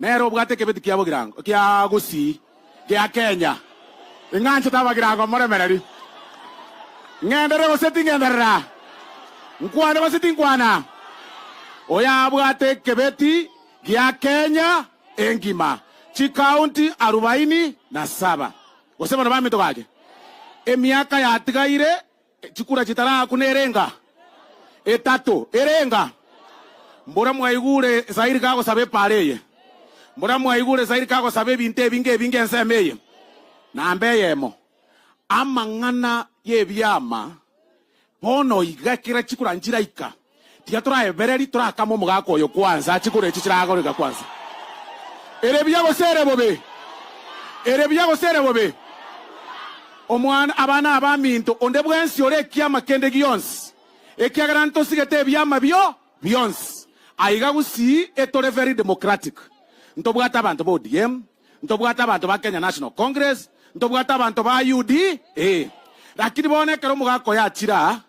Nere obwate ekebeti kia bogirango ekia Gusii gia Kenya. Ing'anchete abagirango moremereri. Ng'enderere gose ting'enderera? Nkwane gose tinkwana? Oyo abwate ekebeti gia Kenya engima, chikaunti arubaini na saba, gose bono bamito gake, emiaka yatigaire. Chikura chitara aaku nerenga? Etato erenga? Mbora mwaigure Zahiri kagosaba epaara eye? Mbora mwaigure Zahiri kagosaba ebinto ebi ngebinge ensemo eye? Namba eyemo, amang'ana y'ebiama bono iga ekero chikura nchiraika. Tiga toraebereri torakame omogaka oyo kwansa, ache koria echi chiragoreka kwansa. Ere buya gose ere bobe? Ere buya gose ere bobe? Omwana, abana abaminto, onde bwensi ore ekiama kende gionsi, ekiagera ntosigete ebiama bio bionsi. Aiga gusii etore very democratic. Ntobwate abanto ba ODM, ntobwate abanto ba Kenya National Congress, ntobwate abanto ba UDA. Lakini bono ekero omogaka oyo achira,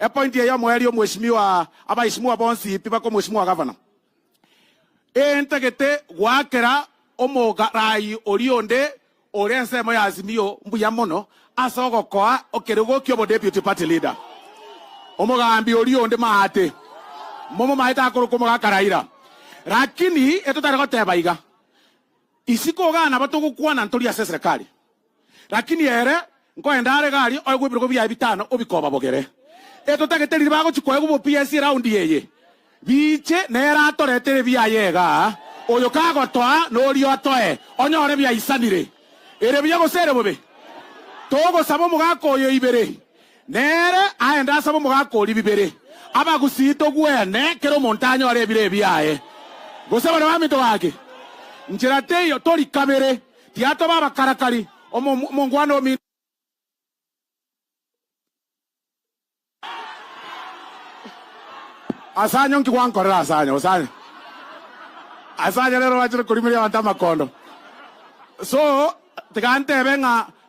Epointi eye omoerio omweshimiwa abaishimua bonsi tibakomoshimua gavana. Entagete goakera omogarai oria onde ore ensemo ya Azimio mbuya mono ase ogokoa ekerogo kiobo deputy party leader. Omogambi oria onde maate momomaete akorokwa omogaka Raila. Rakini etotare goteba iga. Isiko ogana aba togokwana ntori ase eserekari, lakini ere nkoende are iga aria oegwe ebirogo biaye bitano obike obabogere. Etotagete riria bagochia koegwa obopiya ase eraundi eye, biche nere atoretere ebiaye iga, oyo kagotoa noria otoe, onyore ebiaisanire. Ere buya gose ere bobe, togosaba omogaka oyo ibere Nere aende asabe omogaka oria bibere, abagusii togwene, kera omonto anyore ebiree biaye, gose baria baminto gaki. Nchera teiyo, tori kabere, tiatoba abakarakari, omo, omongwana ominto. Asanya onki gwankorera, asanya, osanya, asanya rero obachire korimeria abanto amakondo. So, tiga ntebe ng'a.